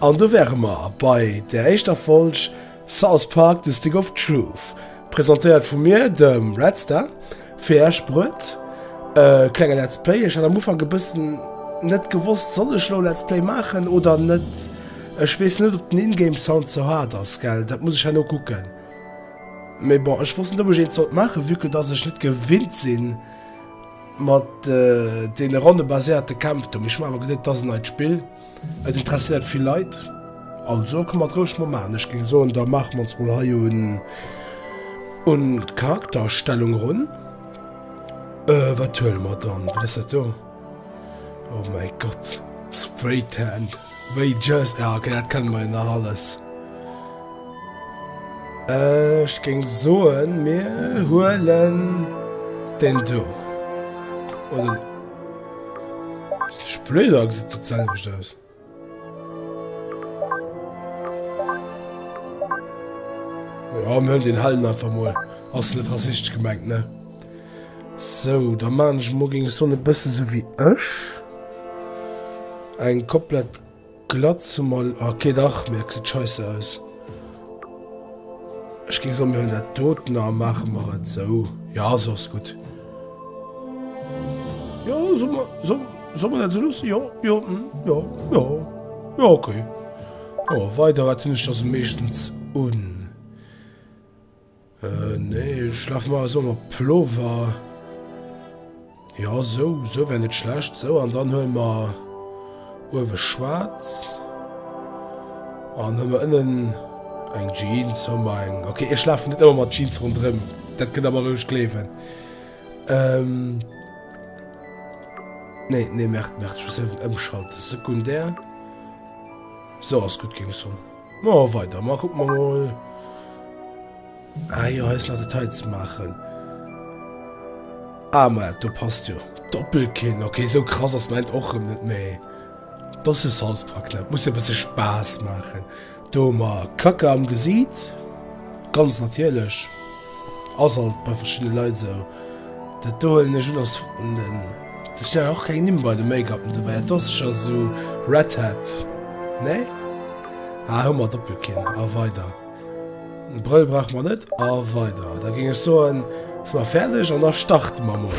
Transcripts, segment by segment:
An do wäre mer bei der éischter Folg South Park, The Stick of Truth, presentéiert vu mir, dem Redstar, fir Iech bruet. E klenge Let's Play. Ech hat am Ufank e bëssen net gewosst, soll ech elo e Let's Play maachen oder net. Ech weess net, ob den In-Game Sound ze haart ass, gell? Dat muss ech herno kucken. Mee bon, ech wosst net, ob ech eent sollt maachen, vue que dass ech net gewinnt sinn, Mat deene ronnebaséierte Kämpf do. Mee ech hunn awer geduet, et ass en neit Spill, et interesséiert vill Leit. Also kann mer roueg mol maachen. Ech géing soen, da maache mer ons mol hei un un d'Charaktererstellung erun. Äh, wat huele mer dann? Wat ass dat do? Oh mäi Gott, Spraytan! Wéi just? Ah ok, dat kënne mer jo nach alles. Ech géing soen, mir huelen den do. Oder... Splöder gesit dat selwecht aus. Ja, mir hunn den Hellen einfach mol. Ass net rassistesch gemengt, ne? Sou, da maan ech mol, géing ech soen, e bësse sou wéi ech. Eng komplett Glatze mal, okay dach, mee et gesäit scheisse aus. Ech géing soen, mir hunn dat doten a maache mer et sou. Ja, sou ass gutt. Jo, solle mer, solle, solle mer dat sou loossen? Jo, jo, hm, jo, jo, jo, okay. Jo, weider, wat hunn ech da sou meeschtens un? Nee, ech laf mar esou mat Plover. Jo, sou, sou wär net schlecht. Sou, an dann huele mer uewe schwaarz an hu mer ënnen eng Jeans, hu mer eng. Ok, ech lafen net ëmmer mat Jeans ronderëm, dat kënnt der mer roueg gleewen. Nee, nee, merkt, merkt, ech muss ewen ëmschalten. Sekundär. Sou ass gutt, keng Sorg. Ma weider, ma kucken mer mol. Ah jo, hei ass nach Detail ze maachen. Ah ma, do passt jo Doppelkinn. Ok, sou krass ass mäint och erëm net méi. Dat ass jo Southpark net, muss jo e bësse Spaass maachen. Do hu mer Kacke am Gesiit, ganz natierlech. Ass alt bei verschiddene Leit esou. Dat do huelen ech un ass vun den, do stinn awer och keng Nimm bei de Make-upen dobäi. Dat do ass sécher esou Red Hat, nee? Ah, hu mer Doppelkinn a weider. E Brëll brauche mer net a weider. Da géing ech soen, si mer fäerdeg an da starte mer mol.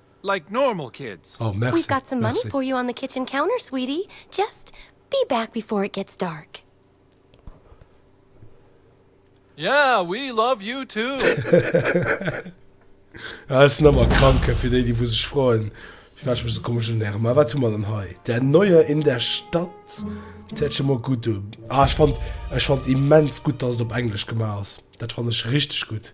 like normal kids. Oh merci, merci. We've got some money for you on the kitchen counter, sweetie. Just be back before it gets dark. Yeah, we love you too. Ah, ech sinn ëmmer e Kranke, fir déi, déi wou sech froen, firwat ech mech esou komesch unerem. Ma wat hu mer dann hei? Der Neuer in der Stadt. Dat hört scho mol gutt un. Ah, ech fand, ech fand immens gutt, dass et op Englesch gemaach ass. Dat fand ech richtig gutt.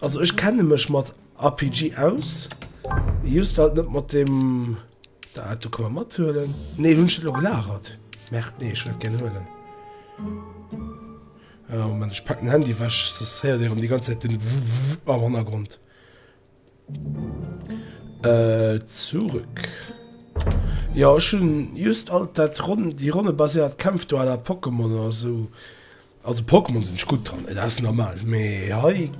Also ech kenne mech mat RPG aus, just halt net mat dem da do kann man mat huelen nee hunn ech net lo gelagert merkt nee ech wollt gären huelen oh Mann ech packen Handy wech soss héiert dir rem déi ganz Zäit den Www am Hannergrond äh zurück jo ech hunn just alt dat ronn déi ronnebaséiert Kämpf do à la Pokémon oder sou. Also Pokémon sin ech gudd dran, et ass normal, mee hei,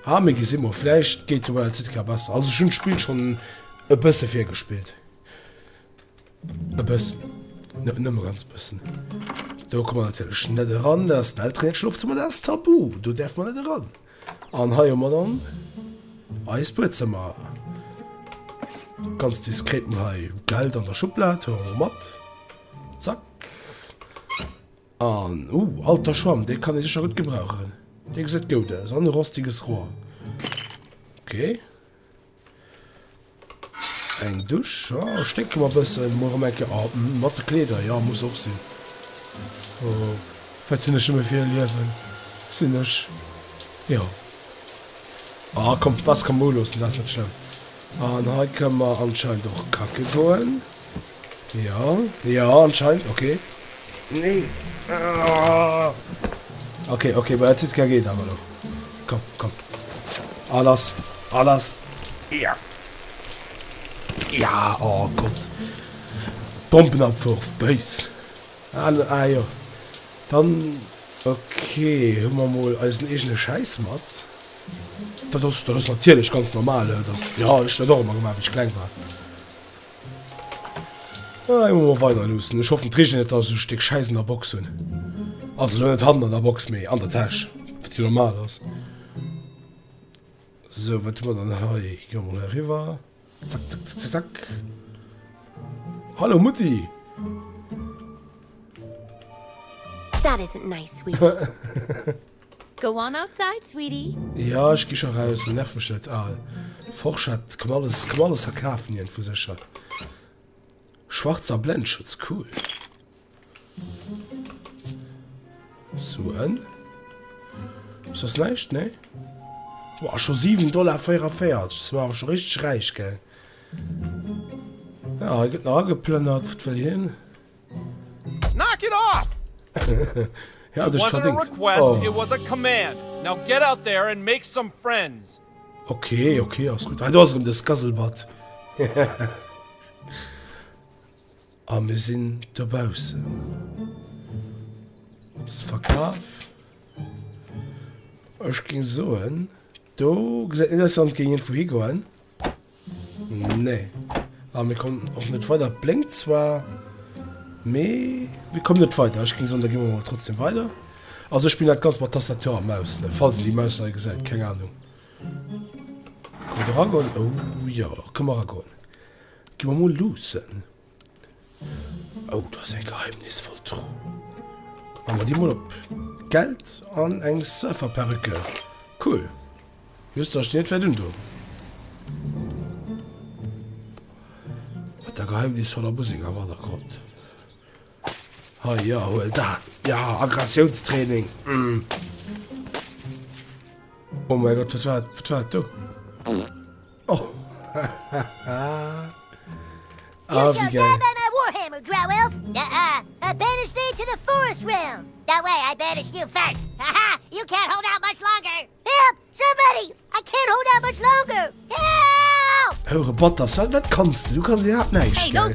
ah mee gesi mol, vläicht geet de Wild Südka besser, also ech hun d'Spill schon e bësse virgespillt, e bëssen, nëmme ganz bëssen, do kommen mer natierlech net eran, dat ass den Elteren Schlof, zu Madame Tabu, do däerfe mer net eran, an hei hu mer dann eist Buedzëmmer, ganz diskret mol hei Geld an der Schublad, hu mer mol mat, zack. An oh, alter Schwamm, dee kann ee sécher gutt gebrauchen. Dee gesäit goud aus. An e rostiges Rohr. Ok. Eng Dusch. Jo, oh, sténke mer e bëssen. Muer erëm eng Kéier. Oh, mm, mat de Kleeder. Jo, muss och sinn. Oh, wat hunn ech nëmme fir e Liewen. Sinn ech. Jo. Ah, komm, d'Wasser ka mer uloossen, dat ass net schlëmm. An hei kënne mer anscheinend och kacke goen. Jo, jo, anscheinend, ok. Nee. Ok, ok, bei der Zitka geet awer lo. Komm, komm. A lass, a lass. Ja. Ja, oh Gott. Bombenabwurf, béis. Ah, ah jo. Dann, ok, hu mer mol eisen eegene Schäiss mat. Dat ass, dat ass natierlech ganz normal, dat ass, jo, ech hunn dat och ëmmer gemaach, wéi ech kleng war. Ah, eng mol weider luussen. Ech hoffen d'Regen net dass ech Stéck Schäiss an der Box hunn. Also lo net hannen an der Box méi an der Täsch. Wat jo normal ass. So wat hu mer dann hei? Gi mer mol heriwwer. Zack, zack, zack, zack. Hallo Mutti! That isn't nice, sweetie. Go on outside, sweetie. Jo, ech gi scho raus, nerv mech net. Aal Forschett, komm alles, komm alles hei kafen, iergendwou sécher. Schwarzer Blendschutz, cool. Suen? Soss näischt? Nee? Boah, scho 7 Dollar 44, si mer awer scho richteg räich, gell? Ah, hei gëtt nach ageplënnert, wat wëll hien? Knock it off! Hie hat ech verdéngt. Oh. Ok, ok, ass gutt. Hei do ass erëm de Scuzzlebutt. A mir sinn dobaussen. Ass verkaf. Ech géing soen. Do gesäit interessant géing iergendwou higoen. Nee a mir kommen och net weider. Et blénkt zwar mee mir kommen net weider. Ech géing soen da gi mer mol trotzdem weider. Also ech spillen dat ganz mat Tastatur a Maus ne falls een déi Maus nei gesäit. Keng Ahnung. Kënnt eragoen? Ou jo kënn mer eragoen. Gi mer mol luussen. Oh, do ass eng geheimnisvoll Truh. Maan mer déi mol op. Geld an eng Surferperücke. Cool. Just dass ech déi net wärt undoen. Mat der geheimnisvoller Musek am Hannergrond. Ha ja, huel dat. Ja, Aggressionstraining. Mm. Oh mein Gott, wat war, wat war do? Hou Roboter, Sal, wat kanns de? Du kanns iwwerhaapt näischt, gell?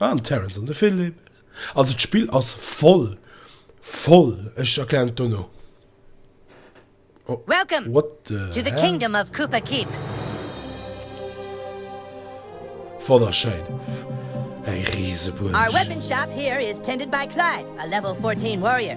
Ah, den Terence an de Philippe. Also d'Spill ass voll, voll. Ech erklären et dono. Welcome to the kingdom of Koopa Keep. Wonnerschéin, eng Riesebuerg. Our weapon shop here is tended by Clive, a level 14 warrior.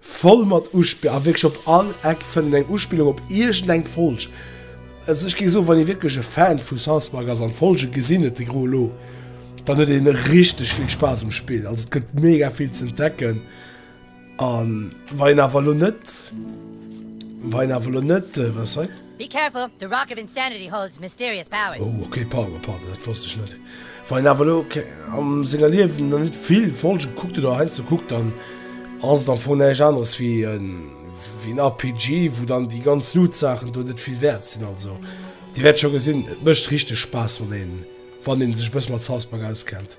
Voll mat Uspillungen, a wierklech op all Eck fënnt een eng Uspillung op iergend eng Folg. Also ech géif soen, wann ee wierklech e Fan vu South Park ass an d'Folge gesinn huet, déi gro elo, dann huet ee richteg vill Spaass um Spill. Also et gëtt mega vill ze entdecken, a wa een awer elo net, wa een awer elo net, wat ass hei? Be careful, the rock of insanity holds mysterious powers. Oh ok, pardon, pardon, dat wosst ech net, wa een awer elo am senger Liewen nach net vill Folge gekuckt huet oder heiansdo kuckt, dann ass et am Fong näischt aneres wéi en RPG, wou dann déi ganz Loot-Saachen do net vill wäert sinn. Also Dir wäert scho gesinn, et mécht richteg Spaass, wann ee sech e bësse mat South Park auskennt.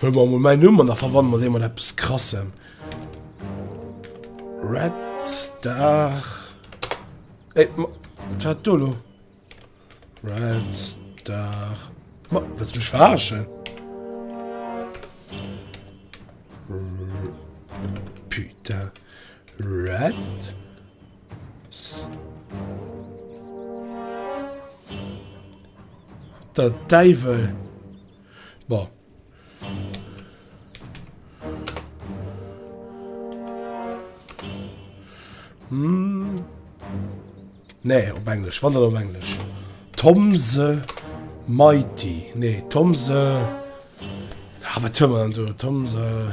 Huele mer emol mäin Numm an da verbanne mer dee mat eppes Krassem. Red Star. Ey, ma, wat war dat do elo? Red Star. Ma, wëlls mech verarschen? Putain. Red Star. Der Däiwel. Bon. Hm. Nee, op Englesch. Wann op Englesch. Tom the Mighty. Nee, Tom the... Ah, wat hör man an du? Tom the...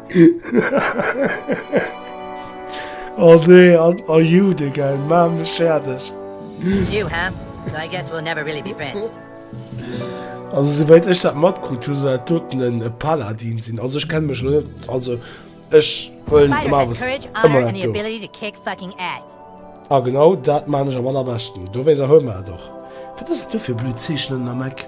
Oh nee, an a Jude gell, maach mech fäerdeg. Also souwäit ech dat matkrutt hu soll dat doten en Paladin sinn, also ech kenne mech elo net, also ech huelen normalerweis ëmmer dat do. A genau dat maan ech am allerbeschten, dowéinst erhuelen mer dat och. Wat ass dat do fir blöd Zeechnen am Eck?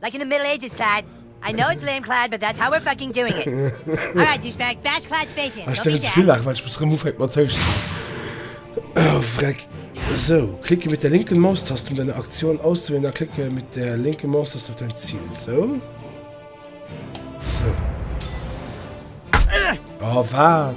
Like in the middle ages Clyde, I know it's lame Clyde but that's how we're fucking doing it Alright douchebag bash Clyde's face in, don't be sad Oh freck Sou, klicke mit der linken Maustaste um deine Aktion auszuwählen dann klicke mit der linken Maustaste auf dein Ziel Sou Sou Oh waat!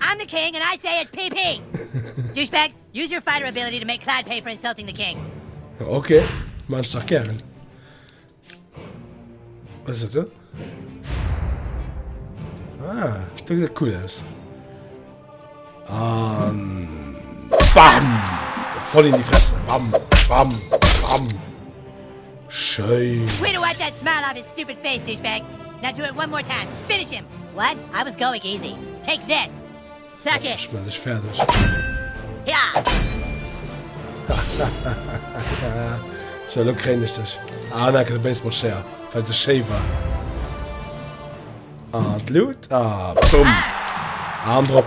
I'm the king and I say it's PP! Douchebag, use your fighter ability to make Clyde pay for insulting the king. Ok, maan ech dach gären. Wat ass dat do? Ah, dat gesäit cool aus. Um, BAM! Voll in die Fresse! BAM! BAM! BAM! Schéin! Fäerdeg, fäerdeg, fäerdeg! Sou, elo kréien ech dech. Ah, an enke de Baseballschéier, well se schéi war. An d'Lut. Ah, bumm! An drop!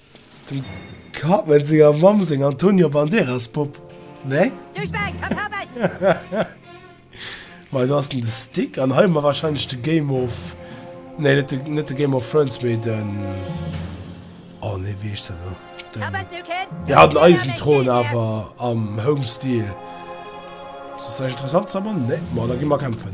Dem Cartman senger Mamm seng Antonio Banderas Popp, nee? Duerch mäi Katames! Mei do ass den de Stick an hei hu mer wahrscheinlech de Game of, nee net de net de Game of Thrones mee den, oh nee wéi heescht dat elo, den, jo den Eisenthron awer am Home Style. Ass dat interessant Summer? Nee, ma da gi mer kämpfen.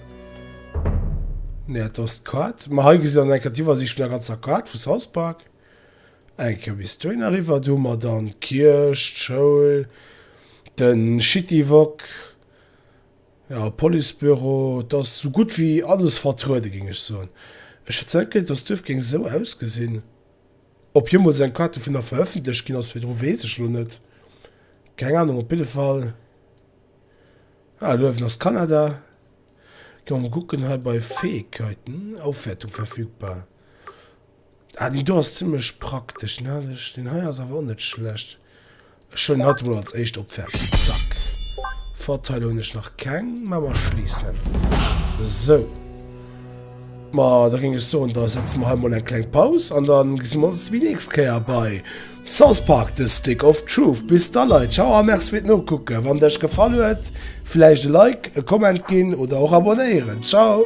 Ne, dat ass d'Kaart. Ma hei gesitt der dann eng Kéier d'Iwwersiicht vun der ganzer Kaart vu South Park. Eng Kéier bis dohin eriwwer. Do hu mer dann d'Kierch, d'Schoul, de Shitty Wok, ja, Policebüro. Et ass esou gutt wéi alles vertruede géing ech soen. Ech hätt zwar net geduecht, datt d'Duerf géing esou ausgesinn. Ob jeemools eng Kaart dovunner verëffentlecht ginn ass, virdru weess ech elo net. Keng Ahnung. Op jidde Fall. Ah, luewen ass Kanada. Ginn mer mol kucken, hei bei Fähigkeiten, Aufwärtung verfügbar. Ah, deen do ass zimmlech praktesch. Deen hat ech, deen hei ass awer och net schlecht. Ech huelen hatt emol als éischt op, fertig, zack. Vorteile hunn ech nach keng, mä mer schliissen. Sou. Ma da géing ech soen, da setze mer hei mol eng kleng Paus an dann gesi mer ons déi nächst Kéier bei. South Park The Stick of Truth. Bis da Leit, ciao a merci fir d'Nokucken. Wann et iech gefall huet, vläicht e Like, e Comment ginn oder och abonéieren. Ciao!